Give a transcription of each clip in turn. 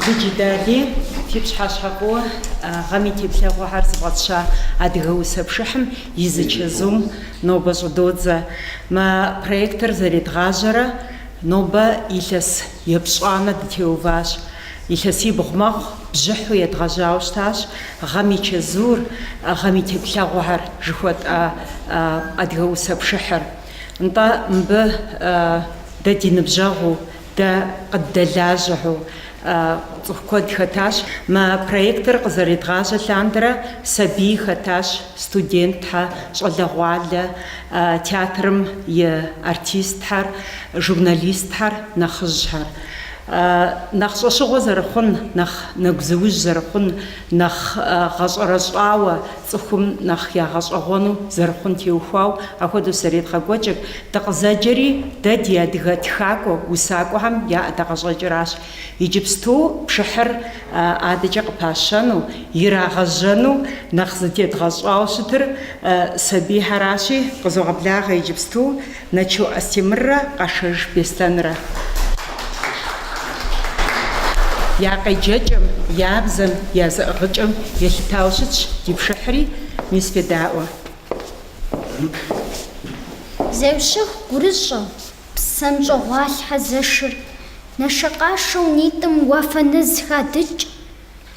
Джыджы Дали, фи пщыхьэщхьэ фӏыуэ, гъэм и теплъэгъуэхьэр зыфӏэтща Адыгэ усэ пшыхьым и зы чэзум нобэ щӏыдодзэ. Мы проектыр зэредгъажьэрэ нобэ илъэс епщӏанэ дытеуващ. Илъэсибгъу мэхъу, бжьыхьу едгъэжьауэ щытащ гъэм и чэзур, гъэм и теплъэгъуэхэр жыхуэтӏа Адыгэ усэ пшыхьыр. Нтӏэ, мыбы дэ ди ныбжьэгъуу, дэ къыддэлажьэу цӏыху куэд хэтащ. Мы проектыр къызэредгъажьэ лъандэрэ сабий хэтащ, студентхьэ, щӏалэгъуалэ, театрым и артистхьэр, журналистхьэр, нэхъыжьхьэр. Нэхъ щӏэщыгъуэ зэрыхъун, нэхъ нэгузыужь зэрыхъун, Нэхъ гъэщӏэрэщӏауэ, цӏыхум нэхъ ягъэщӏэгъуэну зэрыхъун теухуауэ апхуэдэу зэредгъэкӏуэкӏыр. Дыкъызэджэри, дэ ди адыгэ тхакӏуэ усакӏуэхэм я ӏэдакъэщӏэкӏыращ. Иджыпсту пшыхьыр адэкӏэ къыпащэну, ирагъэжьэну нэхъ зытедгъэщӏауэ щытыр сабийхьэращи, къызогъэблагъэ иджыпсту. Нэчо Астемыррэ Къашэж Беслъэнрэ. Я къеджэкӏэм, я бзэм, я зэӏыгъыкӏэм елъытауэ щытщ ди пшыхьри, мис федаӏуэ. Зеущэху гурыщӏэу, псэм щӏэгъуалъхьэ зэшыр, нэшэкъашэу нитӏым уафэ нэз хадыкӏ.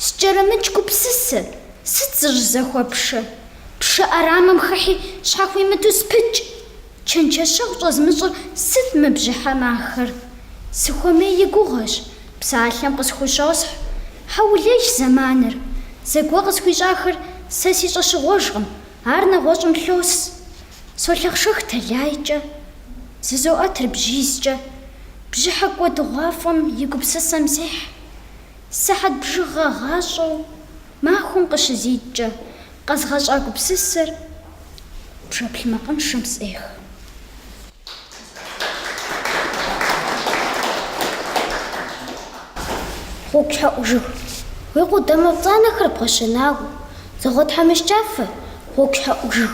Скӏэрымыкӏ гупсысэ, сыт зыщӏызэхуэпшэ? Пшэ ӏэрамэм хыхьи щхьэхуимыту спыкӏ. Чэнджэщэгъу щӏэзмыщӏыр сыт мы бжьыхьэм ахэр? Сыхуэмей и гугъэщ, псалъэм къысхущосхь. Хьэулейщ зэманыр. Зэгуэ къысхуищӏахэр сэ си щӏэщыгъуэжкъым, ар нэгъуэщӏым лъос. Солъэхъшэх тэлайкӏэ. Зызоӏэтыр бжьизкӏэ. Бжьыхьэ кӏуэдыгъуафӏэм и гупсысэм сехь. Сыхьэт бжыгъэ гъащӏэу махуэм къыщызиткӏэ, къэзгъэщӏа гупсысэр пшэплъ макъыншэм сӏех. Гъуэгущхьэӏу жыг, уи къудамэ пцӏанэхэр бгъэщэнауэ, зэгъуэтхьэмыщкӏафэ, гъуэгущхьэӏу жыг.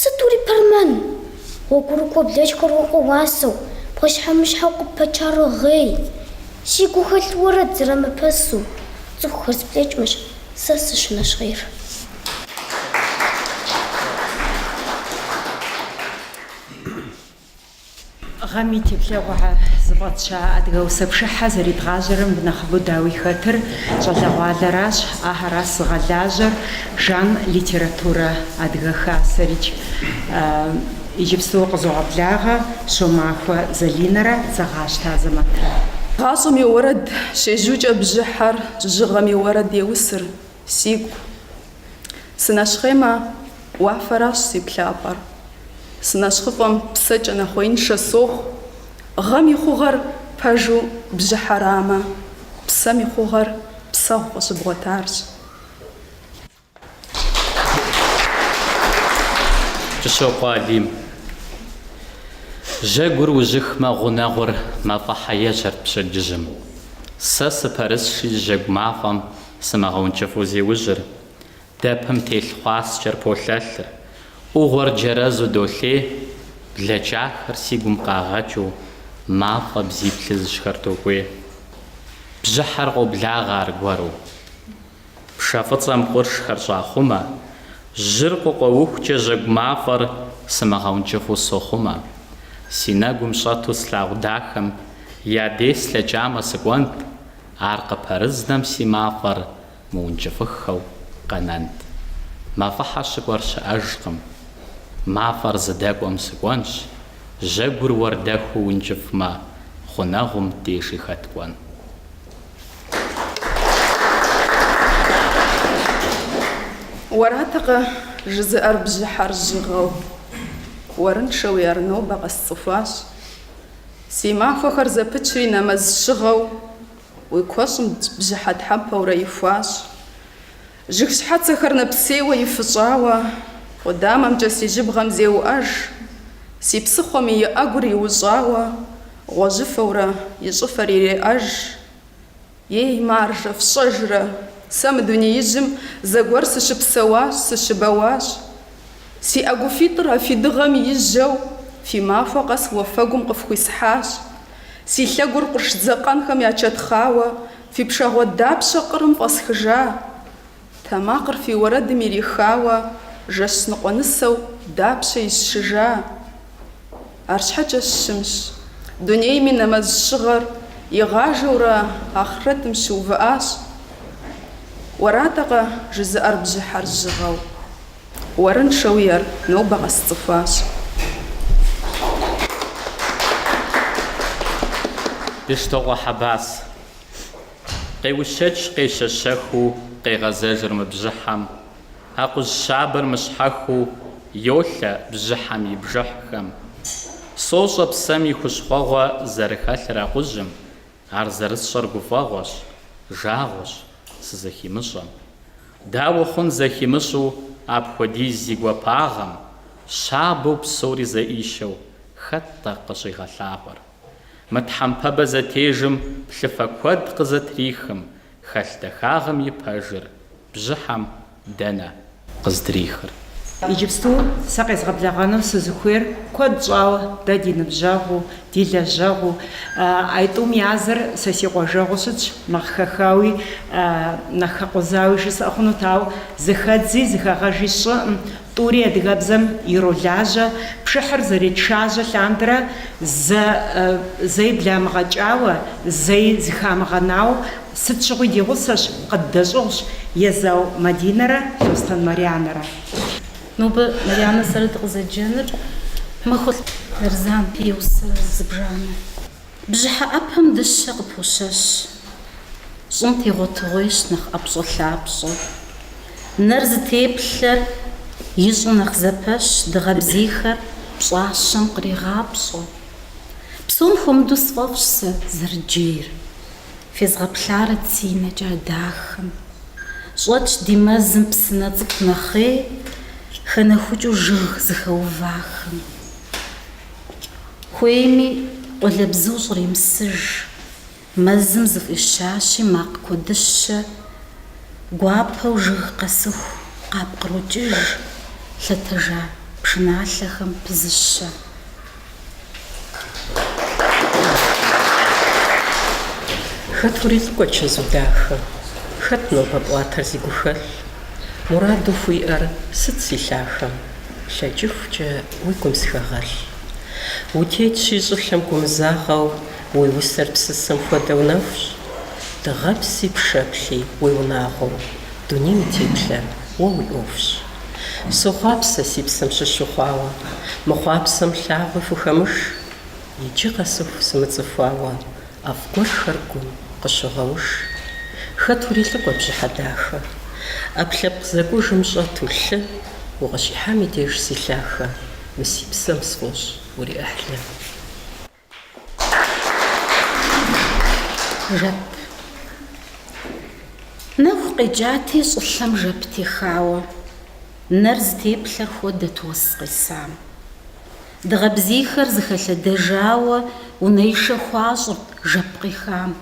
Сытури пэрмэн! Гъуэгурыкӏуэ блэкӏхэр уэ къоуэсэу, пхъэщхьэмыщхьэу къыппачар уогъей. Си гухэлъ уэрэд зрамыпэсу, цӏыхухэр зблэкӏмэщ, сэ сыщынэщхъейр. Гъэм и теплъэгъуэхэр зыфӏэтща Адыгэ усэпшыхьэ зэридгъажьэрэм нэхъыбэу дауи хэтыр щӏалэгъуалэращ, ахэращ зыгъэлажьэр Жан литературэ Адыгэ Хасэрикӏ. Иджыпсту къызогъэблагъэ Щомахуэ Залинэрэ Дзэгъащтэ Азэмэтрэ. Гъащӏэм и уэрэд щежьукӏэ бжьыхьэр, жьыгъэм и уэрэд еусыр, сигу Сынэщхъеймэ, уафэращ си плъапӏэр. Сынэщхъыфӏэм псэкӏэ нэхъуеиншэ сохъу. Гъэм и хъугъэр пэжу бжьыхьэрамэ, псэм и хъугъэр псэгъу къыщыбгъуэтарщ. Кӏыщокъуэ Алим. Жьэгур ужьыхмэ, гъунэгъур мафӏэхьэ ежьэрт пщэдджыжьым. Сэ сыпэрысщи, жьэгу мафӏэм Сымыгъэункӏыфӏу зеужьыр, дэпым телъ хъуаскӏэр полъэлъыр, ӏугъуэр джэрэзу долъей, блэкӏахэр си гум къагъэкӏыу, мафӏэ бзий плъыжьхэр докӏуей. Бжьыхьэр къоблагъэ аргуэру. Пшэ фӏыцӏэм къуршхэр щӏахъумэ, жьыр къыкъуэухукӏэ жьэгу мафӏэр сымыгъэункӏыфӏу сохъумэ. Си нэгум щӏэту слъагъу дахэм я дей слъэкӏамэ сыкӏуэнт, Ар къыпэрызнэм си мафӏэр мыункӏыфӏыххэу къэнэнт. Мафӏэхьэ щыкӏуэр щыӏэжкъым. Мафӏэр зыдэкӏуэм сыкӏуэнщ, жьэгур уэрдэхуу ункӏыфӏмэ, гъунэгъум дежи хэт кӏуэн. Уэратэкъэ жызыӏэр бжьыхьэр жьыгъэу, уэрыншэуи ар нобэ къэсцӏыхуащ. Си махуэхэр зэпычри нэмэз щыгъэу Уи куэщӏым бжьыхьэ тхьэмпэурэ ихуащ. Жыг щхьэцэхэр нэпсейуэ ифыщӏауэ Къудамэмкӏэ си жьыбгъэм зеуӏэж, Си псыхъуэм и ӏэгур иущӏауэ Гъуэжьыфэурэ и щӏыфэр иреӏэж. Ей, маржэ, фщӏэжрэ? Сэ мы дунеижьым зэгуэр сыщыпсэуащ, сыщыбэуащ. Си ӏэгуфитӏыр а фи дыгъэм ижьэу, фи махуэ къэс уафэгум къыфхуисхьащ. Си лъэгур къурш дзэкъэнхэм ячэтхъауэ, фи пшагъуэ дапщэ къырым фӏэсхыжа? Тэмакъыр фи уэрэдым ирихауэ жэщ ныкъуэ нысэу дапщэ исшыжа? Арщхьэкӏэ щымщ. Дунейми нэмэз щыгъэр игъажэурэ ахърэтым щыувыӏащ. Уэратэкъэ жызыӏэр бжьыхьэр жьыгъэу? Уэрыншэуи ар нобэ къэсцӏыхуащ. Бештокъуэ Хьэбас. Къеущэкӏ къещэщэхыу къегъэзэжыр мы бжьыхьэм, акъужь щабэр мыщхьэхыу йолъэ бжьыхьэм и бжыхьхэм. Сощӏэ псэм и хущхъуэгъуэ зэрыхэлъыр акъужьым, ар зэрысщӏэр гуфӏэгъуэщ, жагъуэщ, сызэхимыщӏэм. Дауэ хъун зэхимыщӏу апхуэдиз зи гуапагъэм, щабэу псори зэӏищэу хэт-тӏэ къыщӏигъэлъагъуэр? Мы тхьэмпэбэ зэтежым плъыфэ куэд къызэтрихым, хэлъ дахагъым и пэжыр бжьыхьэм дэнэ къыздрихыр? Иджыпсту сэ къезгъэблэгъэну сызыхуейр куэд щӏауэ дэ ди ныбжьэгъуу, ди лэжьэгъуу аитӏум языр сэ си къуажэгъуу щытщ, нэхъ хэхауи, нэхъ хэкъузауи жысӏэ хъунут, ауэ зыхэдзи, зыхэгъэжи сщӏыӏым, Тӏури адыгэбзэм иролажьэ, пшыхьыр зэретшажьэ лъандэрэ, зэ, зэи бламыгъэкӏауэ, зэи зыхамыгъэнауэ, сыт щыгъуи ди гъусэщ, къыддэщӏыгъущ, Езау Мадинэрэ Лъостэн Марянэрэ. Нобэ Марянэ сэрэ дыкъызэджэныр Махуэлӏ Нарзан и усэ зыбжанэ. Бжьыхьэ ӏэпэм дыщэ къыпощэщ. Щӏым тегъуэтыгъуейщ нэхъ ӏэпщӏэлъапщӏэ. Нэр зытеплъэр ищӏу нэхъ зэпэщ, дыгъэбзийхэр пщӏащэм кърегъапщӏэ. Псом хуэмыдэу сфӏэфӏщ сэ зэрыджейр. Фезгъэплъарэт си нэкӏэ а дахэм. Щӏэтщ ди мэзым псынэ цӏыкӏу нэхъей, хэнэхукӏыу жыг зыхэувахэм. Хуейми, къуалэбзу щӏремысыж. Мэзым зыфӏищащи, макъ куэдыщэ. Гуапэу жыг къэсыху къапкърокӏыж лъэтэжа пшыналъэхэм пызыщэ. Хэт урилӏыкӏуэ чэзу дахэ? Хэт нобэ пӏуатэр зи гухэлъ? Мураду хуиӏэр сыт си лъахэм? Лъэкӏыхукӏэ уи гум сыхэгъэлъ. Утетщи, щӏылъэм гумызагъэу, уи усэр псысэм хуэдэу нэхущ. Дыгъэпси пшэплъи уи унагъуэу, дунейм и теплъэр уэ уи ӏуэхущ. Сохъуапсэ си псэм щыщ ухъуауэ, мы хъуапсэм лъагъуи хухэмыш. Иджы къэсыху сымыцӏыхуауэ. ӏэфӏ гуэрхэр гум къыщыгъэуш. Хэт урилӏыкӏуэ, бжьыхьэ дахэ? ӏэпкълъэпкъ зэкӏужым щӏэту лъы укъыщихьам и деж си лъахэ, мы си псэм сфӏощӏ уриӏыхьлы. Жэп. Нэху къекӏати, щӏылъэм жэп техауэ, нэр зытеплъэр хуэдэт уэс къесам. Дыгъэ бзийхэр зыхэлъэдэжауэ унэишэ хуащӏырт жэп къехам.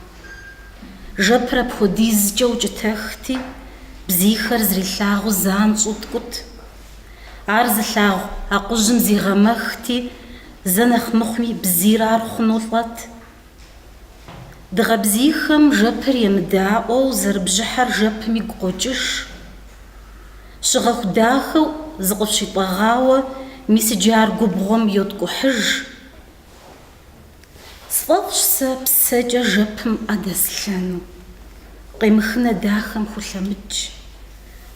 Жэпыр апхуэдизкӏэ укӏытэхти, бзийхэр зэрилъагъуу занщӏэу ткӏут. Ар зылъагъу акъужьым зигъэмэхти, зэ нэхъ мыхъуми бзийр ар хъуну лӏэт, Дыгъэбзийхэм жэпыр емыдаӏуэу зэрыбжьыхьэр жэпым игу къокӏыж. Щыгъэху дахэу зыкъыщитӏэгъауэ мис иджы ар губгъуэм йоткӏухьыж. Сфӏэфӏщ сэ псэкӏэ жэпым ӏэ дэслъэну. Къемыхын а дахэм хулъэмыкӏ.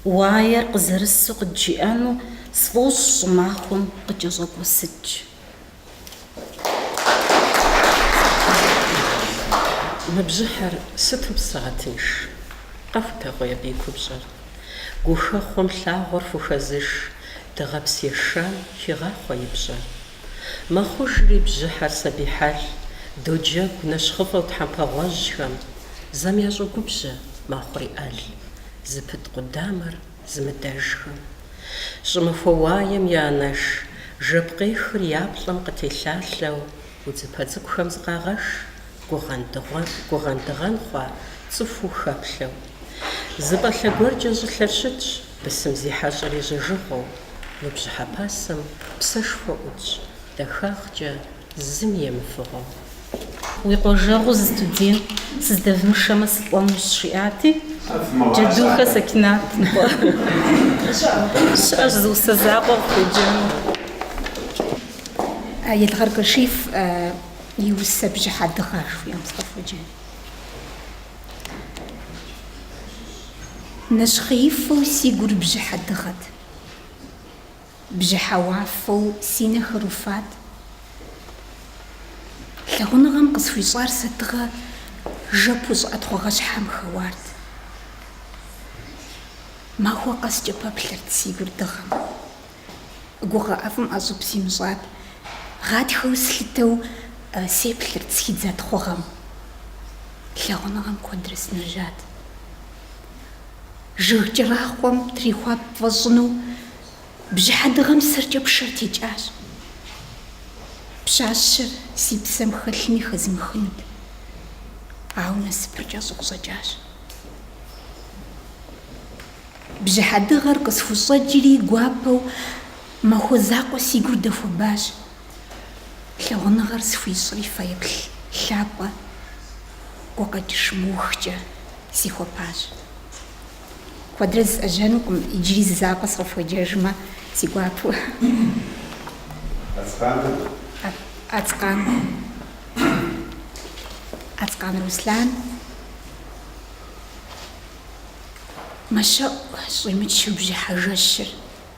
Уаер къызэрысу къыджиӏэну сфӏощӏ щӏымахуэм къыкӏэщӏэкӏуэсыкӏ. Мы бжьыхьэр сыту псэгъэтынш! Къэхутэгъуей абы и купщӏэр. Гухэхъуэм лъагъуэр хухэзыш, дыгъэпс ешам хегъахъуэ и пщӏэр. Мэхъужри бжьыхьэр сабий хьэл, доджэгу нэщхъыфӏэу тхьэмпэгъуэжьхэм. Зэм ящӏогубжьэ мэхъури ӏэл, зыпыт къудамэр зымыдэжхэм. Щӏымахуэ уаем я анэш жэп къехыр я плӏэм къытелъалъэу удзыпэ цӏыкӏухэм зыкъагъэш гугъэн дыгъэн хъуа цӏыхуу хэплъэу. Зы пӏалъэ гуэркӏэ щӏылъэр щытщ бысым зи хьэщӏэр ежьэжыгъуэу, мы бжьыхьэ пасэм псэшхуэ ӏутщ дахагъкӏэ зыми емыфыгъуэу. Уи къуажэгъу зы студент сыздэвмышэмэ сылӏэнущ, жиӏати, Джэдухэ Сэкинат щыӏэщ зы усэ закъуэ къыхуеджэну. Елгъэр Кашиф и усэ бжьыхьэ дыгъэ жыхуиӏэм сыкъыфхуеджэн. Нэщхъеифэу си гур бжьыхьэ дыгъэт. Бжьыхьэ уафэу си нэхэр уфат. Лъагъуныгъэм къысхуищӏар сэ тыгъэ жэпу щӏыӏэ тхъугъэ щхьэм хэуарт. Махуэ къэскӏэ пэплъэрт си гур дыгъэм. Гугъэ ӏэфӏым ӏэщӏыб симыщӏат. Гъатхэу слъытэу сеплъырт схидза тхъугъэм. Лъагъуныгъэм куэдрэ сынежьат. Жьы кӏэрахъуэм трихуа пфӏэщӏыну Бжьыхьэ дыгъэм сэркӏэ пшэр текӏащ. Пщащэр си псэм хэлъми хэзмыхынут. Ауэ насыпыр кӏэщӏу къыщӏэкӏащ. Бжьыхьэ дыгъэр къысхущӏэкӏри гуапэу махуэ закъуэ си гур дэхуэбащ. Лъагъуныгъэр схуищӏри фэеплъ лъапӏэ гукъэкӏыж мыухкӏэ сихуэпащ. Куэдрэ зысӏэжьэнукъым, иджыри зы закъуэ сыкъыфхуеджэжмэ, си гуапэу. Ацкъаныр? Ацкъан. Ацкъан Руслан. Мэщэӏу, щӏимычу бжьыхьэ жэщыр.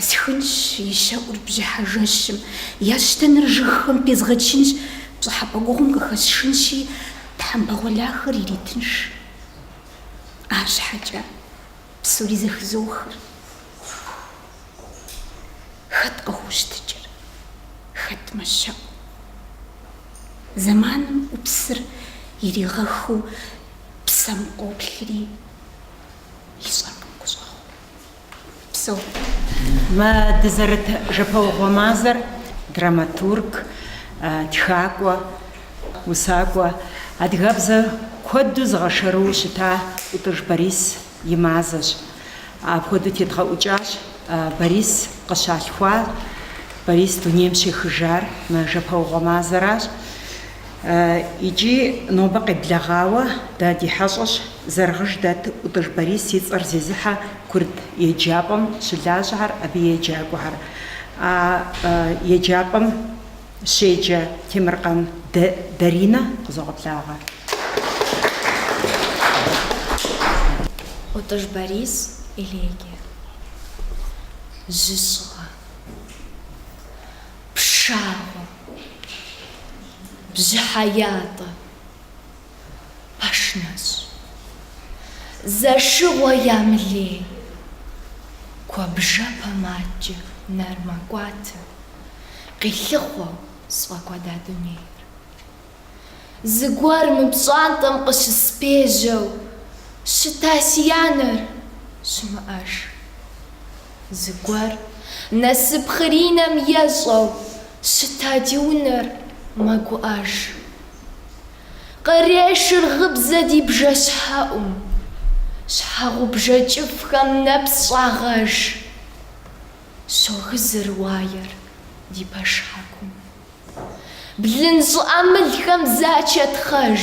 Схынщ и щэӏур бжьыхьэ жэщым, я щтэныр жыгхэм пезгъэчынщ, пщӏыхьэпӏэ гугъум къыхэсшынщи, тхьэмпэ гъуэлахэр иретынш. Арщхьэкӏэ псори зэхызохыр. Хэт къыхощтыкӏыр, хэт мэщэӏу? Зэманым ӏупсыр иригъэхыу псэм къоплъри, ищӏэркъым гущӏэгъу. Упсэу. Мы дызэрыт жэпэугъуэ мазэр драматург, тхакӏуэ, усакӏуэ, адыгэбзэр куэду зыгъэшэрыуэу щыта Ӏутӏыж Борис и мазэщ. Апхуэдэу тедгъэӏукӏащ Борис къыщалъхуар, Борис дунейм щехыжар мы жэпэугъуэ мазэращ. Икӏи нобэ къеблэгъауэ дэ ди хьэщӏэщ Зэрэгъыж дэт Ӏутӏыж Борис и цӏэр зезыхьэ курыт еджапӏэм щылажьэхэр, абы еджакӏуэхэр. А еджапӏэм щеджэ Темыркъан Даринэ къызогъэблагъэ. Ӏутӏыж Борис элегие. Жьы щӏыӏэ. Пшагъуэ. Бжьыхьэ ятӏэ. пэш нэщӏ. Зэшыгъуэ ямылей. Куэбжэпэм адкӏэ нэр мэкӏуатэ, къилъыхъуэу сфӏэкӏуэда дунейр. Зыгуэр мы пщӏантӏэм къыщыспежьэу щыта си анэр щымыӏэж. Зыгуэр насып хъыринэм ещӏэу щыта ди унэр мэгуӏэж. Кърешыр гъыбзэ ди бжэщхьэӏум. Щхьэгъубжэ кӏыфӏхэм нэпс щӏагъэж. Щогызыр уаер ди пэшхьэкум. Блын щӏыӏэ мылхэм зачэтхъэж.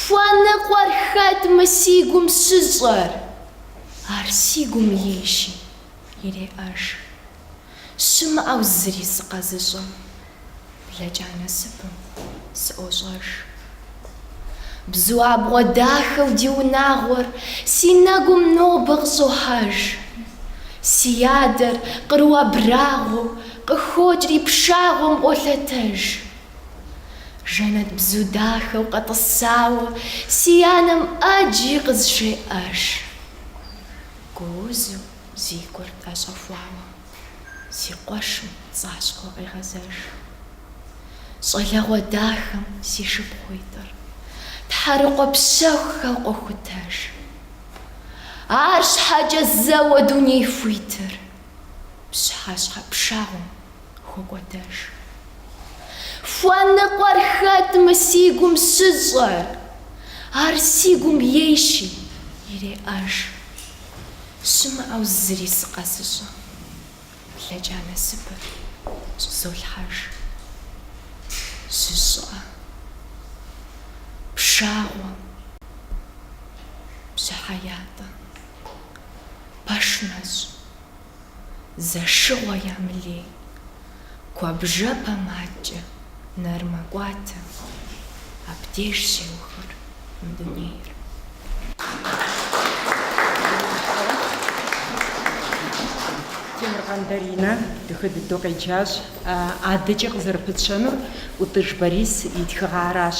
Хуэныкъуэр хэт мы си гум щыщӏэр? Ар си гум ейщи, иреӏэж. щымыӏэу зыри сыкъэзыщӏэм, блэкӏа насыпым сыӏощӏэж. Бзу абгъуэ дахэу ди унагъуэр си нэгум нобэ къыщӏохьэж. Си адэр къру абрагъуэу къыхокӏри пшагъуэм къолъэтэж. Жэнэтбзу дахэу къэтӏысауэ си анэм ӏэджи къызжеӏэж. Гуузу. Зи гур тӏэщӏэхуауэ си къуэшым пцӏащхъуэу къегъэзэж. Щӏалэгъуэ дахэм си шыпхъуитӏыр тхьэрыкъуэ пщэхухэу къохутэж. Арщхьэкӏэ зэуэ дуней хуитыр пщыхьэщхьэ пшагъуэм хокӏуэдэж. Хуэныкъуэр хэт мы си гум щыщӏэр, ар си гум ейщи иреӏэж. Щымыӏэу зыри сыкъэзыщӏэ. Блэкӏа насыпыр щӏызолъхьэж. Жьы щӏыӏэ, пшагъуэ, бжьыхьэ ятӏэ, пэш нэщӏ. зэшыгъуэ ямылей, куэбжэпэмкӏэ нэр мэкӏуатэ, абдеж щеухыр мы дунейр. Темыркъан Даринэ дахэ дыдэу къеджащ. Адэкӏэ къызэрыпытщэнур ӏутӏыж Борис и тхыгъэращ.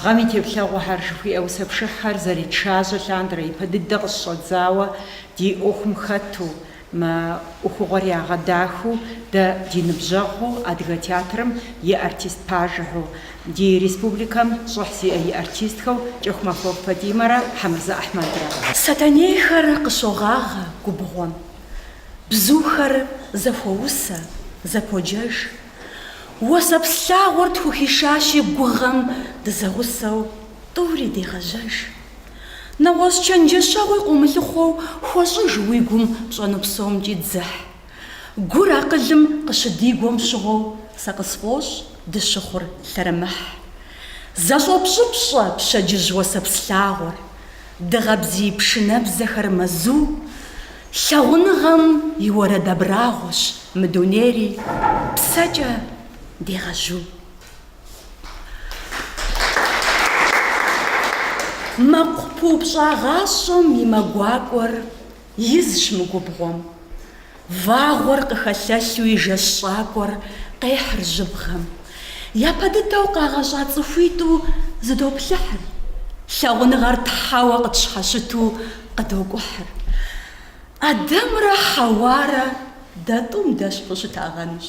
Гъэм и теплъэгъуэхэр жыхуиӏэ усэ пшыхьхэр зэретшажьэ лъандэрэ ипэ дыдэ къыщыщӏэдзауэ, Ди ӏуэхум хэту, мы ӏуэхугъуэр ягъэдахэу дэ ди ныбжьэгъу адыгэ театрым и артист пажэхэу, ди республикэм щӏыхь зиӏэ и артистхэу Кӏэхумахуэ Фатӏимэрэ Хьэмырзэ Ахьмэдрэ. Сэтэнейхэр къыщогъагъэ губгъуэм, бзухэр зэхуоусэ, зэподжэж. Уэсэпс лъагъуэр тхухишащи гугъэм дызэгъусэу тӏури дегъэжьэж. Нэгъуэщӏ чэнджэщэгъуи къыумылъыхъуэу хуэщӏыж уи гум пщӏэну псомкӏи дзыхь. Гур акъылым къыщыдигуэм щыгъуэу сэ къысфӏощӏ дыщыхъур лъэрымыхь. Зэщӏопщӏыпщӏэ пщэдджыжь уэсэпс лъагъуэр, дыгъэ бзий пшынэбзэхэр мэзу. Лъагъуныгъэм и уэрэд абрагъуэщ мы дунейри псэкӏэ дегъэжьу. Мэкъу пыупщӏагъащӏэм и мэ гуакӏуэр изщ мы губгъуэм. Вагъуэр къыхэлъэлъу и жэщ щӏакӏуэр къехьыр жьыбгъэм. Япэ дыдэу къагъэщӏа цӏыхуитӏу зыдоплъыхьыр. Лъагъуныгъэр тхьэуэ къытщхьэщыту къыдокӏухьыр. Адэмрэ Хьэуарэ дэ тӏум дэщхьу щытагъэнущ.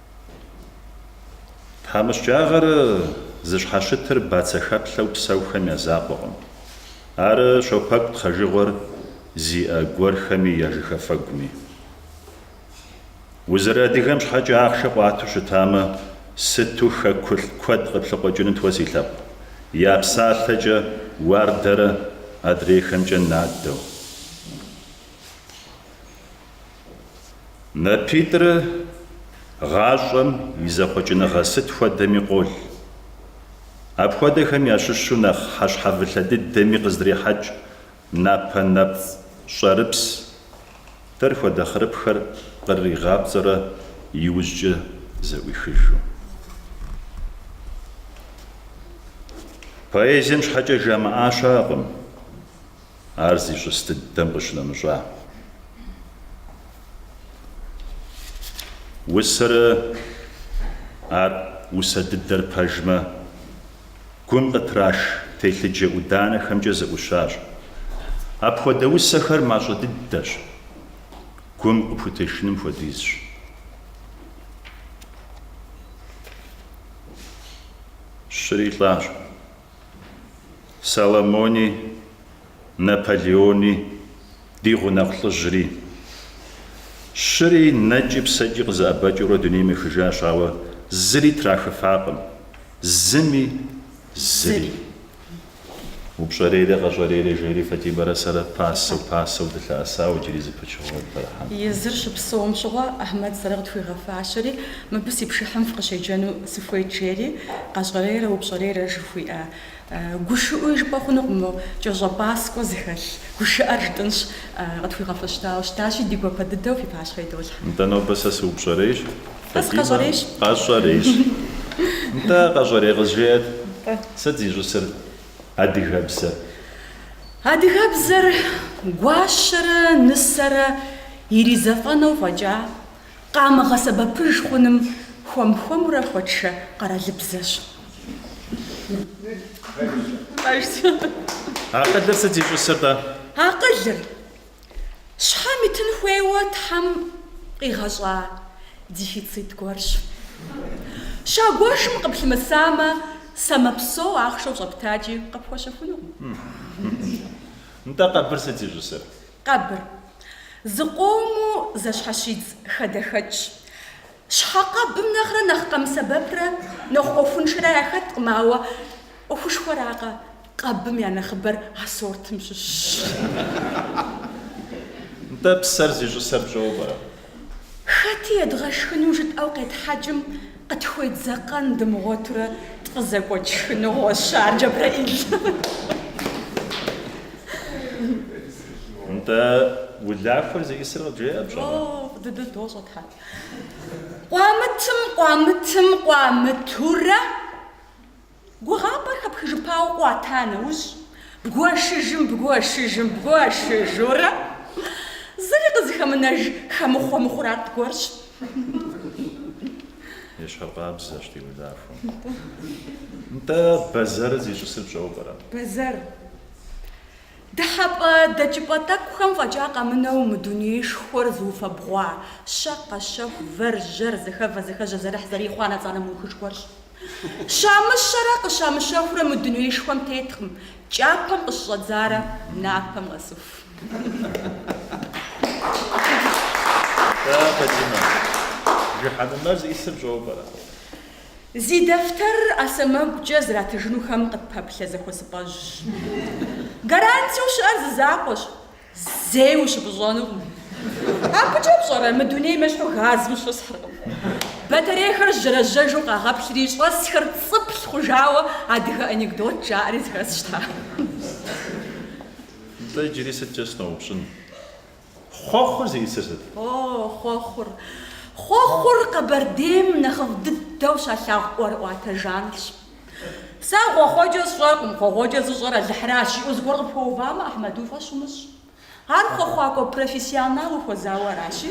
Тхьэмыщкӏагъэр зыщхьэщытыр бацэхэплъэу псэухэм я закъуэкъым. Ар щопэкӏу тхъэжыгъуэр зиӏэ гуэрхэми я жыхафэгуми. Узэрыадыгэм щхьэкӏэ ахъшэ къуату щытамэ, сыту хэкулӏ куэд къыплъыкъуэкӏынут уэ си лъэпкъ, я псалъэкӏэ уардэрэ адрейхэмкӏэ надэу. Напитӏыр гъащӏэм и зэхъуэкӏыныгъэ сыт хуэдэми къол. Апхуэдэхэм ящыщу нэхъ хьэщхьэвылъэ дыдэми къыздрехьэкӏ напэ нэпцӏ щӏэрыпс. Дэр хуэдэ хъырыпхэр кърыригъапцӏэрэ иужькӏэ зэӏуихыжу. Поэзием щхьэкӏэ жамыӏа щыӏэкъым. Ар зищӏыс дыдэм къыщынэмыщӏа усэрэ ар усэ дыдэр пэжмэ, гум къытраш телъыджэ ӏуданэхэмкӏэ зэӏущащ. Апхуэдэ усэхэр мащӏэ дыдэщ, гум къыпхутешыным хуэдизщ. Щыри лӏащ. Соломони, Наполеони, ди гъунэгъу лӏыжьри. Щыри нэкӏи псэкӏи къызэӏэбэкӏыурэ дунейм ехыжащ, ауэ зыри трахыфакъым, зыми, зыри. Упщӏэрейрэ къэщӏэрейрэ жери Фатимэрэ сэрэ пасэу, пасэу дылъэӏэсауэ иджыри зы пычыгъуэ дыпэрыхьэнт. Езыр щыпсэум щыгъуэ Ахьмэд сэрэ къытхуигъэфащэри, Мыбы си пшыхьым фыкъыщеджэну сыхуейт, жери, къэщӏэрейрэ упщӏэрейрэ жыхуиӏэ. Гушыӏуи жыпӏэ хъунукъым мо, кӏэщӏэпӏаскӏуэ зыхэлъ гушыӏэр жытӏынщ, къытхуигъэфэщтауэ щытащи, ди гуапэ дыдэу фи пащхьэ идолъхьэ. Нтӏэ, нобэ сэ сыупщӏэрейщ, Сэ сыкъэщӏэрейщ. Къэщӏэрейщ. Нтӏэ, къэщӏэрей къызжеӏэт. Нтӏэ. Сыт зищӏысыр адыгэбзэр? Адыгэбзэр гуащэрэ нысэрэ иризэфӏэнэу фӏэкӏа? къамыгъэсэбэпыж хъуным хуэм-хуэмурэ хуэтшэ къэралыбзэщ. Акъылыр сыт зищӏысыр-тӏэ? Акъылыр, щхьэм итын хуейуэ Тхьэм къигъэщӏа дефицит гуэрщ. Щагуэшым къыплъымысамэ, самэ псо ахъшэу щӏэптакӏи, къыпхуэщэхунукъым. Нтӏэ, къэбыр сыт зищӏысыр? Къэбыр. Зыкъомыу зэщхьэщидз хадэхэкӏщ. Щхьэкъэбым нэхърэ нэхъ къэмысэбэпрэ нэхъ ӏуэхуншэрэ яхэткъым, ауэ ӏуэхушхуэракъэ, къэбым я нэхъыбэр а сортым щыщщ. Нтӏэ, псэр зищӏысыр пщӏэуэ пӏэрэ? Хэти едгъэшхыну жытӏэу къетхьэкӏым, къытхуедзэкъэн дымыгъуэтурэ тфӏызэкӏуэкӏ шхыныгъуэщ ар, Джэбрэӏил. Нтӏэ, улахуэр зиӏысыр къыджеӏэ пщӏэмэ? О, дыдэ дощӏэ тхьэ. Къуамытым, къуамытым, къуамытурэ Гугъапӏэр хэпхыжыпауэ къуата нэужь, бгуэшыжым, бгуэшыжым, бгуэшыжурэ, зыри къызыхэмынэж хэмыхъуэ мыхъурат гуэрщ. Ещхьыркъабзэщ ди улахуэм. Нтӏэ, бэзэрыр зищӏысыр пщӏэуэ пӏэрэ? Бэзэр. Дыхьэпӏэ дэкӏыпӏэ тӏэкӏухэм фӏэкӏа къэмынэу мы дунеишхуэр зыуфэбгъуа, щэ, къэщэху, вэр, жьэр, зэхэвэ, зэхэжьэ, зэрыхь, зэрихъуа нэцӏанэ мыухыж гуэрщ. Щамыщэрэ къыщамыщэхурэ мы дунеишхуэм теткъым, кӏапэм къыщыщӏэдзарэ напэм къэсыху. Зи дэфтэр ӏэ сэмэгукӏэ зратыжынухэм къытпэплъэ зэхуэсыпӏэжьщ. Гарантиеу щыӏэр зы закъуэщ. Зэи ущыпӏыщӏэнукъым. Абыкӏэ пщӏэрэ, мы дунейм ещхьу газым щысхьыркъым. Батарейхэр жьэражьэжу къагъэплъри, щӏэсхэр цӏыплъ хъужауэ адыгэ анекдот жаӏэри зэхэсщ-тӏэ. Нтӏэ, иджыри сыткӏэ сыноупщӏын, хъуэхъур зиӏысыр сыт? О, хъуэхъур. Хъуэхъур Къэбэрдейм нэхъыфӏ дыдэу щалъагъу ӏуэрыӏуатэ жанрщ. Сэ хъуэхъуэкӏэ сщӏэркъым, хъуэхъуэкӏэ зыщӏэр Алыхьыращ, жиӏэу зыгуэр къыпхуэувамэ, Ахьмэд, уи фӏэщ умыщӏ. Ар хъуэхъуакӏуэ профессионал ухуэзауэ аращи,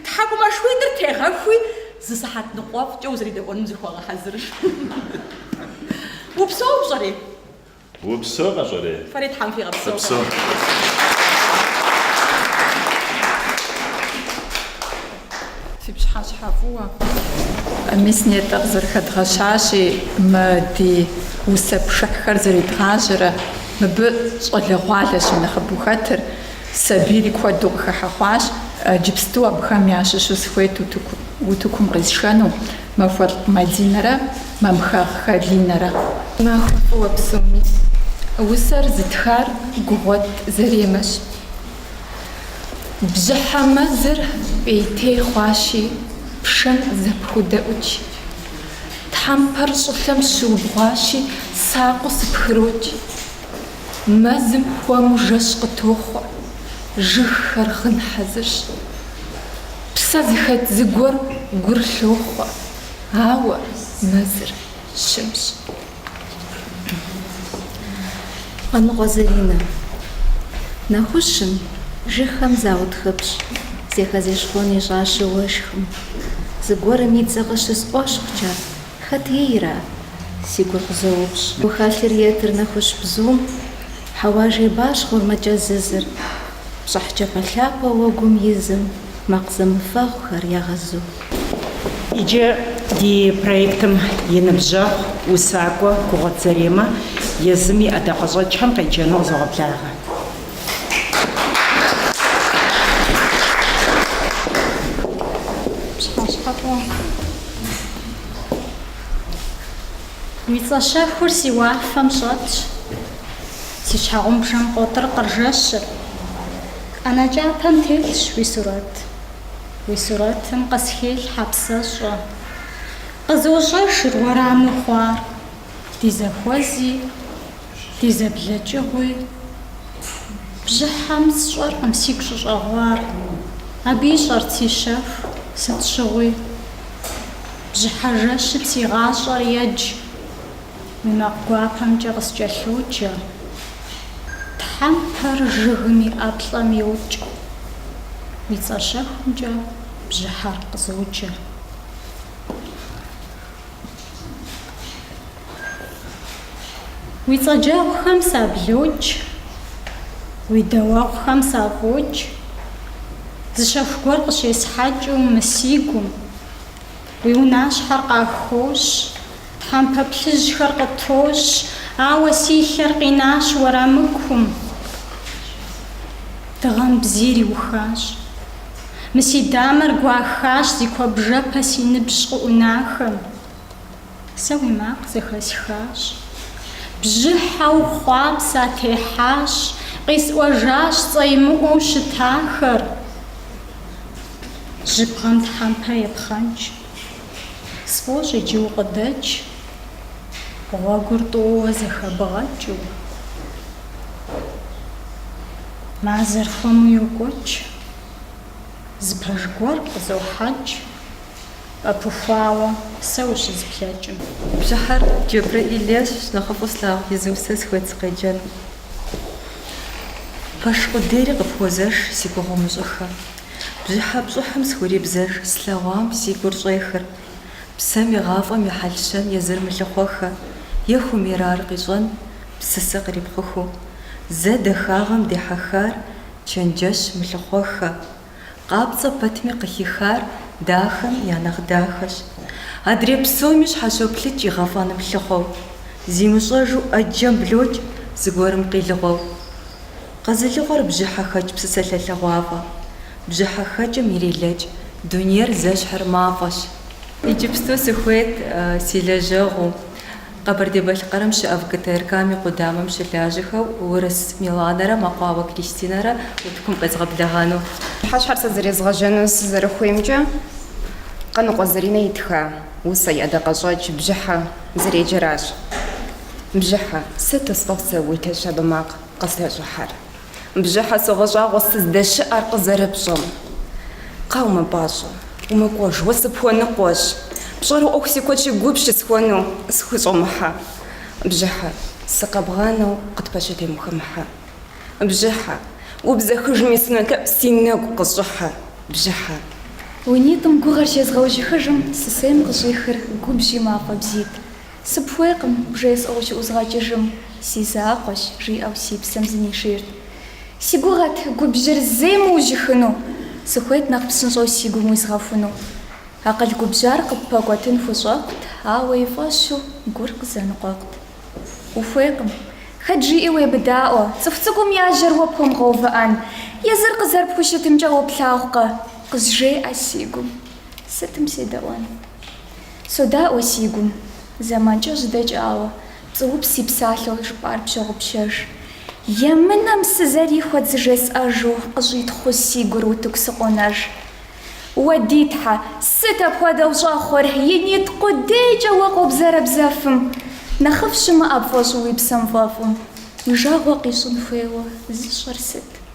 тхьэкӏумэшхуитӏыр тегъэхуи, зы сыхьэт ныкъуэфӏкӏэ узэредэӏуэным зыхуэгъэхьэзыр. Упсэу пщӏэри? Упсэу, къэщӏэрей? Фэри Тхьэм фигъэпсэу, Фыпсэу. Фыпсэу. Фи пщыхьэщхьэ фӏыуэ. Мис нетӏэ къызэрыхэдгъэщащи, мы ди усэ пшыхьхэр зэредгъажьэрэ, мыбы щӏалэгъуалэщи нэхъыбэу хэтыр, сабийри куэду къыхыхьэ хъуащ, иджыпсту абыхэм ящыщу сыхуейт утыку, утыкум къисшэну, Махуэлӏ Мадинэрэ Мамхэгъ Алинэрэ. Махуэ фӏыуэ псоми. Усэр зытхар Гугъуэт Заремэщ. Бжьыхьэ мэзыр пӏейтей хъуащи, пшэм зэпхудэӏукӏ. Тхьэмпэр щӏылъэм щыубгъуащи, сакъыу сыпхырокӏ. Мэзым хуэму жэщ къытохъуэ, жыгхэр гъын хьэзырщ. Псэ зыхэт зыгуэр гур лъохъуэ, ауэ мэзыр щымщ. Къаныкъуэ Заринэ. Нэхущым, жыгхэм заутхыпщ, зэхэзещхъуэн ищӏащи уэшхым. Зыгуэрым и цӏэ къыщысӏуэщхъукӏэ, Хэт ейра? си гур къызоупщӏ. Гухэлъыр етыр нэхущ бзум, хьэуа жейбащхъуэр мэкӏэзызыр, пщӏыхь кӏапэлъапэ уэгум изым макъ зэмыфэгъухэр ягъэзу. Иджы ди проектым и ныбжьэгъу усакӏуэ Гугъуэт Заремэ езым и ӏэдакъэщӏэкӏхэм къеджэну къызогъэблагъэ. Уи цӏэ щэхур си уафэм щӏэтщ, си щхьэгъубжэм къотӏыркъыр жэщыр. ӏэнэ кӏапэм телъщ уи сурэт, уи сурэтым къысхелъхьэ псэщӏэ. Къызощӏэжыр уэраму хъуар. Ди зэхуэзи, ди зэблэкӏыгъуи бжьыхьэм сщӏэркъым, сигу щӏыщӏэгъуар. Абы ищӏэрт си щэху, сыт щыгъуи. Бжьыхьэ жэщым си гъащӏэр едж, уи макъ гуапэмкӏэ къыскӏэлъоджэ. Тхьэмпэр жыгым и ӏэплӏэм йокӏ, уи цӏэ щэхумкӏэ бжьыхьэр къызоджэ. Уи цӏэджэгъухэм саблокӏ, уи дауэгъухэм сафӏокӏ, Зы щэху гуэр къыщесхьэкӏыу мы си гум. Уи унащхьэр къахощ, тхьэмпэ плъыжьхэр къытощ, Ауэ си лъэр къинащ уэрамыкум. Дыгъэм бзийр иухащ. Мы си дамэр гуахащ зи куэбжэпэ си ныбжь къыӏунахэм. Сэ уи макъ зэхэсхащ. Бжьыхьэу хъуам сатехьащ, къисӏуэжащ цӏэимыӏуэу щытахэр. Жьыбгъэм тхьэмпэ епхъэнкӏ. Сфӏощӏ иджы укъыдэкӏ. Гъуэгур тӏууэ зэхэбгъэкӏыу. Мазэр хуэму йокӏуэкӏ. Зы пэж гуэр къызохьэкӏ, ӏэпыхуауэ, сэ ущызыплъэкӏым. Бжьыхьэр Джэбрэӏил ейщ, нэхъыфӏу слъагъу и зы усэ сыхуейт сыкъеджэну. Пэш къудейри къыпхуозэш си гугъу умыщӏыххэ. Бжьыхьэ пщӏыхьым схурибзэж слъэгъуам си гур щӏехыр. Псэм игъафӏэм и хьэл-щэн езыр мылъыхъуэххэ, е хуэмейрар къищӏэн, псысэ кърипхъуху. Зэ дахагъэм дехьэхар Чэнджэщ мылъыхъуэххэ. Къапцӏэ пэтми къыхихар дахэм я нэхъ дахэщ. Адрей псоми щхьэщоплъыкӏ игъэфӏэным лъыхъуэу. Зимыщӏэжу ӏэджэм блокӏ зыгуэрым къилыгъуэу. Къэзылыгъуэр бжьыхьэхэкӏ псысэ лъэлъэгъуафӏэ. Бжьыхьэхэкӏым ирелэкӏ дунейр зэщхьыр мафӏэщ. Иджыпсту сыхуейт си лэжьэгъуу. Къэбэрдей-Балъкъэрым щыӏэ ВГТРК-м и къудамэм щылажьэхэу Урыс Миланэрэ Мэкъуауэ Кристинэрэ утыкум къезгъэблэгъэну. Пщыхьэщхьэр сызэрезгъэжьэну сызэрыхуеймкӏэ Къаныкъуэ Заринэ итха усэ и ӏэдакъэщӏэкӏ бжьыхьэ зэреджэращ. Бжьыхьэ, сыту сфӏэфӏ сэ уи лъэ щабэ макъ къыслъэщӏыхьэр? Бжьыхьэ согъэщӏагъуэ сыздэщыӏэр къызэрыпщӏэм. Кхъа, умыпӏащӏэ, умыкӏуэж, уэ сыпхуэныкъуэщ. Пщӏэрэ ӏуэху си куэдщи гу пщысхуэну схущӏэмыхьэ. Бжьыхьэ, сыкъэбгъанэу къытпэщытым ухэмыхьэ. Бжьыхьэ, убзэхыжми сынолъэӏу си нэгу къыщӏыхьэ. Бжьыхьэ. Уи нитӏым гугъэр щезгъэужьыхыжым сысейм къыщӏихыр губжьи мафӏэ бзийт. Сыпхуейкъым, бжесӏэу ущыӏузгъэкӏыжым, си закъуэщ, жиӏэу си псэм зынишийрт. Си гугъэт губжьыр зейм ужьыхыну, сыхуейт нэхъ псынщӏэу си гум уизгъэхуну. Акъыл губжьар къыппэкӏуэтын хущӏэкъут, ауэ и фӏэщу гур къызэныкъуэкъут. Ухуейкъым. Хэт жиӏи уемыдаӏуэ, цӏыху цӏыкӏум я жьэр уэ пхуэмыгъэувыӏэн, езыр къызэрыпхущытымкӏэ уэ плъагъукъэ, къызжеӏэ си гум. Сытым седэӏуэн? Содаӏуэ си гум, зэманкӏэ щыдэкӏауэ, пцӏыупс и псалъэу жыпӏар пщогъупщэж. Емынэм сызэрихуэт зыжесӏэжу къыщӏитхъыу си гур утыку сыкъонэж. Уэ, ди Тхьэ, сыт апхуэдэу щӏэхъур, и нитӏ къудейкӏэ уэ къобзэрабзэфым, нэхъыфӏ щымыӏэ пфӏэщӏу уи псэм фӏэфӏым, уи жагъуэ къищӏын хуейуэ зыщӏыр сыт?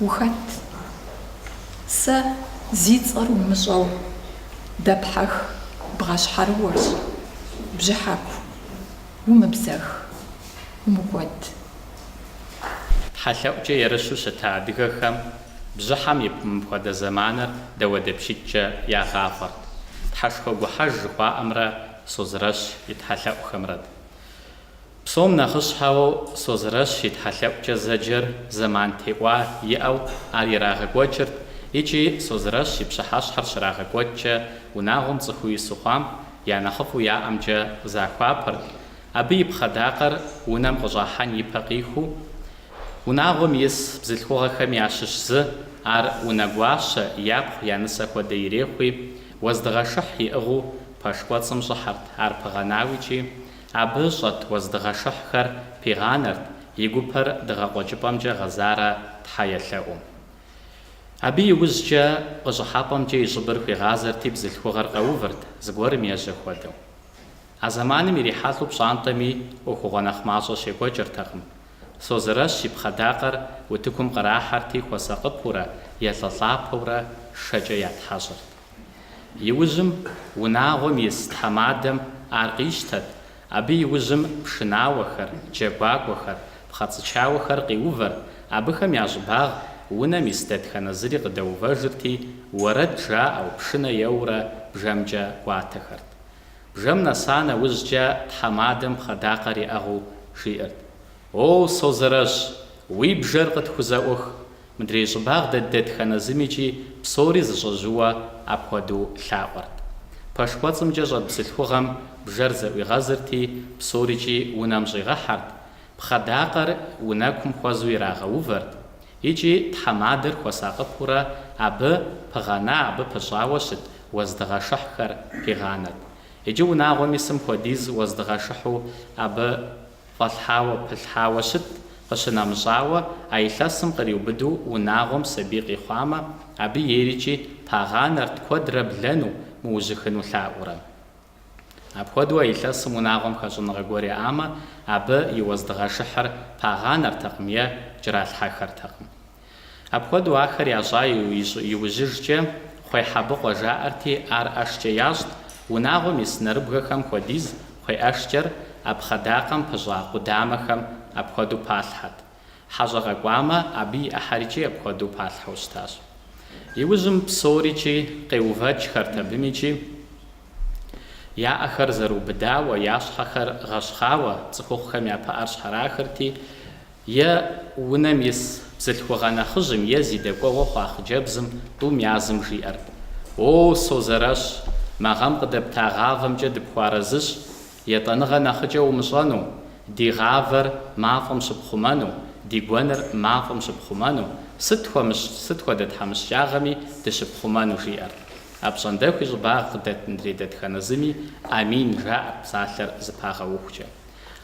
Ухэт? Сэ зи цӏэр умыщӏэу дэпхьэх бгъащхьэрыуэщ, Бжьыхьэку, умыбзэх, умыкӏуэд. Тхьэлъэӏукӏэ ерыщу щыта адыгэхэм бжьыхьэм и мыпхуэдэ зэманыр дауэдапщитӏкӏэ ягъафӏэрт. Тхьэшхуэгухьэж жыхуаӏэмрэ Созрэщ и тхьэлъэӏухэмрэт. Псом нэхъыщхьэу Созрэщ и тхьэлъэӏукӏэ зэджэр зэман теухуа иӏэу ар ирагъэкӏуэкӏырт икӏи Созрэщ и пщыхьэщхьэр щрагъэкӏуэкӏкӏэ унагъуэм цӏыхуу ису хъуам я нэхъыфӏу яӏэмкӏэ захуапэрт, абы и пхъэдакъэр унэм къыщӏахьэн и пэ къиху. Унагъуэм ис бзылъхугъэхэм ящыщ зы ар унэгуащэ, япхъу, я нысэ хуэдэ ирехъуи, уэздыгъэшыхь иӏыгъыу пэш кӏуэцӏым щӏыхьэрт, ар пыгъэнауи икӏи, Абы щӏэт уэздыгъэшыхьхэр пигъанэрт и гупэр дыгъэкъуэкӏыпӏэмкӏэ гъэзарэ Тхьэ елъэӏум. Абы иужькӏэ къыщӏыхьэпӏэмкӏэ и щӏыбыр хуигъазэрти бзылъхугъэр къэувырт, зыгуэрым ежьэ хуэдэу. А зэманым ирихьэлӏэу пщӏантӏэми ӏуэхугъуэ нэхъ мащӏэ щекӏуэкӏыртэкъым. Созэрэщ и пхъэдакъэр утыкум кърахьэрти хуэсакъыпэурэ, елӏэлӏапэурэ шэкӏэ ятхьэщӏырт. Иужьым унагъуэм ис тхьэмадэм ар къищтэт, абы иужьым пшынауэхэр, джэгуакӏуэхэр, пхъэцӏычауэхэр къиувэрт, абыхэм я щӏыбагъ унэм ис дэтхэнэ зыри къыдэувэжырти, уэрэд жаӏэу, пшынэ еуэурэ бжэмкӏэ кӏуатэхэрт. Бжэм нэса нэужькӏэ тхьэмадэм пхъэдакъэр иӏэгъыу жиӏэрт, О, Созэрэщ, уи бжэр къытхузэӏух! Мыдрей щӏыбагъ дэт дэтхэнэ зымикӏи псори зэщӏэжьыуэу апхуэдэу лъаӏуэрт. Пэш кӏуэцӏымкӏэ щӏэт бзылъхугъэм бжэр зэӏуигъэзырти, псорикӏи унэм щӏигъэхьэрт, пхъэдакъэр унэкум хуэзу ирагъэувэрт икӏи тхьэмадэр хуэсакъыпурэ абы пыгъэна, абы пыщӏауэ щыт уэздыгъэшыхьхэр пигъанэрт. Икӏи унагъуэм исым хуэдиз уэздыгъэшыхьу абы. Фӏэлъхьауэ, пылъхьауэ щыт, къыщынэмыщӏауэ, а илъэсым къриубыду унагъуэм сабий къихъуамэ, абы ейрикӏи пагъанэрт куэдрэ блэну, мыужьыхыну лъаӏуурэ. Апхуэдэу а илъэсым унагъуэм хэщӏыныгъэ гуэр иӏамэ, абы и уэздыгъэшыхьыр пагъанэртэкъым е кӏэралъхьэхэртэкъым. Апхуэдэу ахэр ящӏа иужьыжкӏэ кхъуей хьэбыкъуэ жаӏэрти, ар ӏэшкӏэ ящӏт, унагъуэм ис нэрыбгэхэм хуэдиз кхъуей ӏэшкӏэр а пхъэдакъэм пыщӏа къудамэхэм апхуэдэу палъхьэт. Хьэщӏэ къэкӏуамэ, абы и ӏыхьэрикӏи апхуэдэу палъхьэу щытащ. Иужьым псорикӏи къеувэкӏхэрт абым икӏи я ӏэхэр зэрыубыдауэ, я щхьэхэр гъэщхъауэ цӏыхухъухэм я пыӏэр щхьэрахырти, Е унэм ис бзылъхугъэ нэхъыжьым е зи дэкӏуэгъуэ хъуа хъыджэбзым тӏум язым жиӏэрт, О, созэрэщ, мы гъэм къыдэпта гъавэмкӏэ дыпхуэарэзыщ, етӏэныгъэ нэхъыкӏэ умыщӏэну, ди гъавэр мафӏэм щыпхъумэну, ди гуэныр мафӏэм щыпхъумэну, сыт хуэмыщӏ, сыт хуэдэ тхьэмыщкӏагъэми дыщыпхъумэну, жиӏэрт. Апщӏондэхуи щӏыбагъ къыдэт мыдрей дэтхэнэ зыми Амин жаӏэрт псалъэр зыпагъэухукӏэ.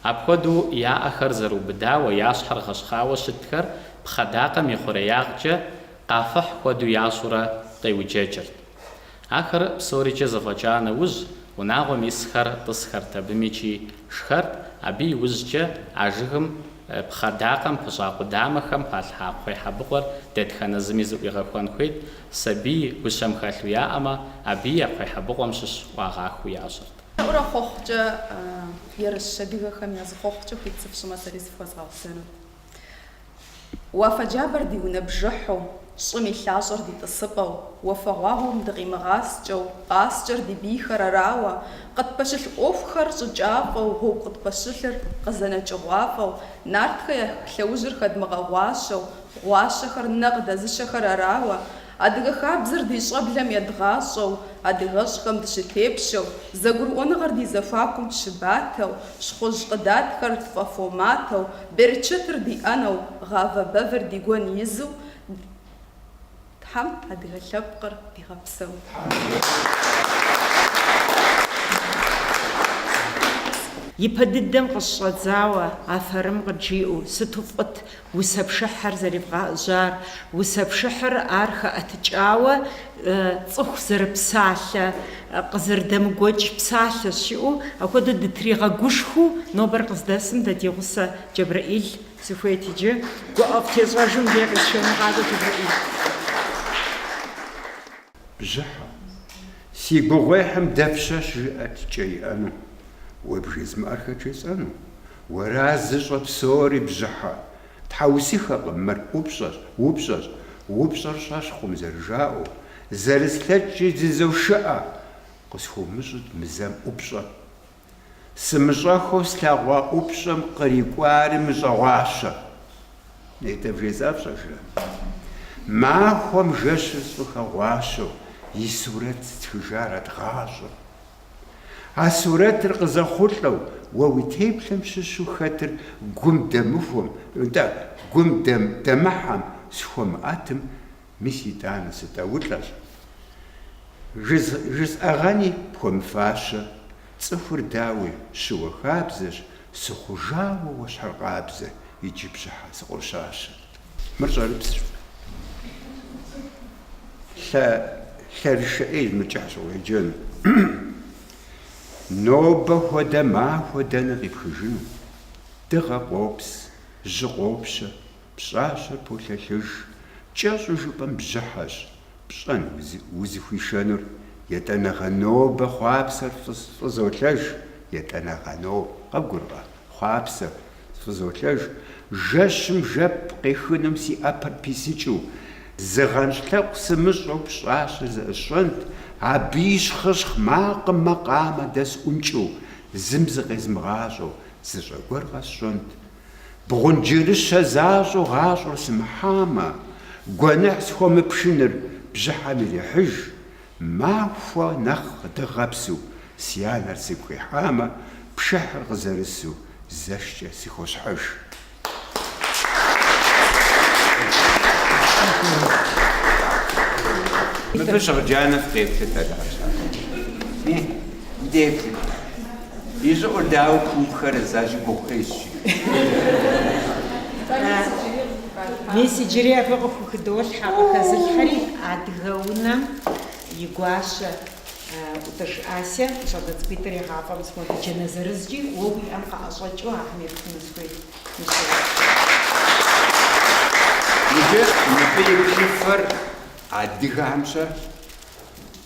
Апхуэдэу я ӏэхэр зэрыубыдауэ, я щхьэр гъэщхъауэ щытхэр пхъэдакъэм и хъуреягъкӏэ къафыхь хуэдэу ящӏурэ къеуджэкӏырт. Ахэр псорикӏэ зэфӏэкӏа нэужь, унагъуэм исхэр тӏысхэрт абым икӏи шхэрт, абы и ужькӏэ а жыгым пхъэдакъэм пыщӏа къудамэхэм палъхьа кхъуейхьэбыкъуэр дэтхэнэ зыми зыӏуигъэхуэн хуейт, сабий гущэм хэлъу яӏэмэ, абыи а кхъуейхьэбыкъуэм щыщ ӏуагъахыу ящӏырт. Лъэӏурэ хъуэхъукӏэ ерыщ адыгэхэм я зы хъуэхъукӏэ хуит сыфщӏымэ сэри зыфхуэзгъэзэну. Уафэ джабэр ди унэ бжыхьу, щӏым и лъащӏэр ди тӏысыпӏэу, уафэгъуагъуэм дыкъимыгъаскӏэу, къаскӏэр ди бийхэр арауэ, къытпэщылъ ӏуэхухэр щӏыкӏафӏэу, гъуэгу къытпэщылъыр къызэнэкӏыгъуафӏэу, нартхэ я лъэужьыр хэдмыгъэгъуащэу, гъуащэхэр нэ къыдэзыщэхэр арауэ, Адыгэ хабзэр ди щӏэблэм едгъащӏэу, адыгэщӏхэм дыщытепщэу, зэгурыӏуэныгъэр ди зэхуакум щыбатэу, щхъужь къыдатхэр тфӏэфоматэу, берычэтыр ди ӏэнэу, гъавэ бэвэр ди гуэн изу, Тхьэм адыгэ лъэпкъыр дигъэпсэу! Ипэ дыдэм къыщыщӏэдзауэ афэрым къыджиӏэу, сыту фӏыт Усэ пшыхьыр зэривгъэӏэжьар, усэ пшыхьыр ар хэӏэтыкӏауэ цӏыху зэрыпсалъэ, къызэрыдэмыгуэкӏ псалъэ щиӏэу, апхуэдэу дытригъэгушхуэу нобэр къыздэсым дэ ди гъусэ Джэбрэӏил сыхуейт иджы гуӏэфӏтещӏэжым дей къисшэну къакӏуэ Джэбрэӏил. Бжьыхьэ, си гугъуехьым дапщэщ жыӏэт кӏэ иӏэну, уэ бжезмыӏэр хэт жесӏэну? Уэра зыщӏэ псори, Бжьыхьэ, тхьэусыхэкъым мыр, ӏупщӏэщ, упщӏэщ, упщӏэр щӏэщхъум зэрыжаӏэу, зэрыслъэкӏкӏи зызошыӏэ, къысхуумыщӏыт мы зэм ӏупщӏэр, Сымыщӏэххэу слъэгъуа ӏупщӏэм кърикӏуари мыщӏэгъуащэ. Нетӏэ бжесӏа пщӏэжрэ? Махуэм жэщыр сфӏыхэгъуащэу и сурэт стхыжарэт гъащӏэм. А сурэтыр къызэхъулӏэу уэ уи теплъэм щыщу хэтыр гум дэмыхуэм, нтӏэ, гум дэмыхьэм схуэмыӏэтым, Мис итӏанэ сытӏэулӏэщ. Жысӏэгъэни пхуэмыфащэ, цӏыхур дауи, щыуэ хабзэщ, сыхъужауэ уэщхьэркъабзэ иджы бжьыхьэ сыкъощащэ. Мыр щӏэрыпсщ. Лъэрышэӏей мыкӏыхь щӏыгъуеджэну. Нобэ хуэдэ махуэ дэнэ къипхыжыну? Дыгъэ къопс, жьы къопщэ, Пщӏащэр полъэлъыж, кӏэщӏу жыпӏэм бжьыхьэщ, пщӏэн, узыхуишэнур, етӏанэгъэ нобэ хъуапсэр фӏызолъэж, етӏанэгъэ ноб, къэбгурыӏуэркъэ, хъуапсэр фӏызолъэж, жэщым жэп къехынум си ӏэпэр писыкӏыу, зыгъэнщӏ лъэӏу сымыщӏэу пщӏащэр зэӏысщӏэнт, абы и щхъыщхъ макъым макъамэ дэсӏункӏыу, зым зыкъезмыгъащӏэу, зы щӏэ гуэр къэсщӏэнт, Бгъунджырыщэ защӏэу гъащӏэр сымыхьамэ, гуэныхь схуэмыпшыныр бжьыхьэм ирехьыж, махуэ нэхъ къыдыгъэпсу си анэр сигу къихьамэ, пшыхьыр къызэрысу зэшкӏэ сыхощхьэж. Мыбы щӏэджанэ фыкъеплъыт, адэ къэсщӏа. Дети, и щӏыӏур дауэ пуупхэрэ, сэ ащи гугъу къесщ, жи. Мис иджыри абы къыхухыдолъхьэ, къыхэзылъхьэри адыгэ унэм и гуащэ ӏутӏыж Ася, щӏалэ цӏыкӏуитӏыр егъафӏэм схуэди джанэ зырызкӏи, уэ уи ӏэм къэӏэщӏэкӏыу ахэм ептыну сыхуейт, мис. Иджы мыбы и плъыфэр адыгэхэмщэ.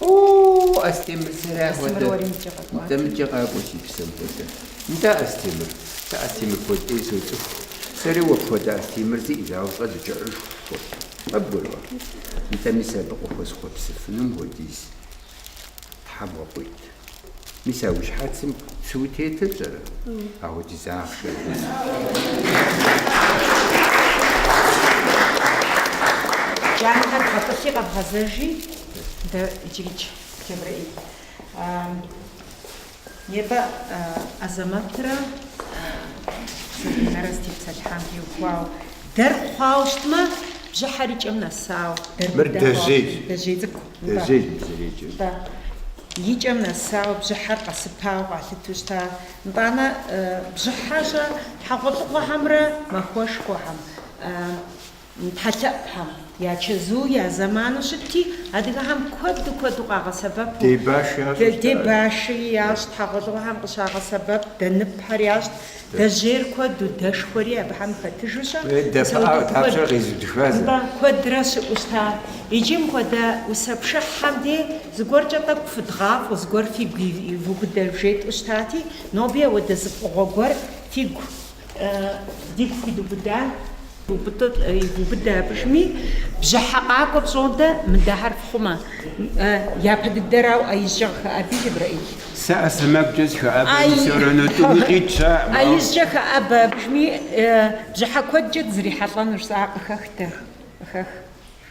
О-о-о, Астемыр, сэрэ хуэдэ. Нтӏэ, мыдэкӏэ къакӏуэ си псэм хуэдэ. Нтӏэ, Астемыр. Нтӏэ, Астемыр куэд ӏей соцӏыху. Сэри уэ пхуэдэ Астемыр зиӏ зауэщӏэ дыкӏэӏыжху хуэхъу. Къэбгуроӏуэ? Нтӏэ, мис абы къыхуэсхуэпсыфынум хуэдиз тхьэм къуит. Мис а уи щхьэцым цыуэ тетыр пщӏэрэ? Апхуэдиз ахъшэ жысӏэ. Джанэхэр бгъэтӏылъи къэбгъэзэжи, дэ иджырикӏ Джэбрэӏил. Небэ Азэмэтрэ Сабинэрэ зытепсэлъыхьам теухуауэ, дэр хъуауэ щытмэ, бжьыхьэр и кӏэм нэсауэ. Мыр дэжьей. Дэжьей цӏыкӏу. Дэжьей мы зэреджэр. Нтӏэ. И кӏэм нэсауэ бжьыхьэр къэсыпауэ къалъыту щыта. Нтӏанэ, бжьыхьэ щэ хьэгъуэлӏыгъуэхэмрэ махуэшхуэхэм, тхьэлъэӏухэм я чэзу, я зэману щытти, адыгэхэм куэду куэду къагъэсэбэпу. Дэ баши ящӏу щытащ. Дэ баши ящӏ, хьэгъуэлӏыгъуэхэм къыщагъэсэбэп, дэ ныпхэр ящӏ. дэжьейр куэду, дэшхуэри абыхэм хэтыжу щыӏэу, куэдрэ щыӏэу щыта, иджы мыхуэдэ усэ пшыхьхэм дэ зыгуэркӏэ тӏэкӏу фыдгъафӏэу, зыгуэр фигу ивубыдэу жетӏу щытати, ноби ауэдэ зы фӏыгъуэ гуэр фигу, дигу фидубыда? Убыдэ абы жми, бжьыхьэ къакӏуэ пщӏодэ, мыдэхэр фхъумэ, япэ дыдэрауэ ижькӏэ къыхэӏэби, Джэбрэӏил? Сэ а сэмэгукӏэ сыхэӏэбэ, мисорэ нотӏу мыкъит ща. А ижькӏэ хэӏэбэ абы жми, бжьыхьэ куэдкӏэ дызрихьэлӏэнущ, сэ ар къыхэхтэ, къыхэх.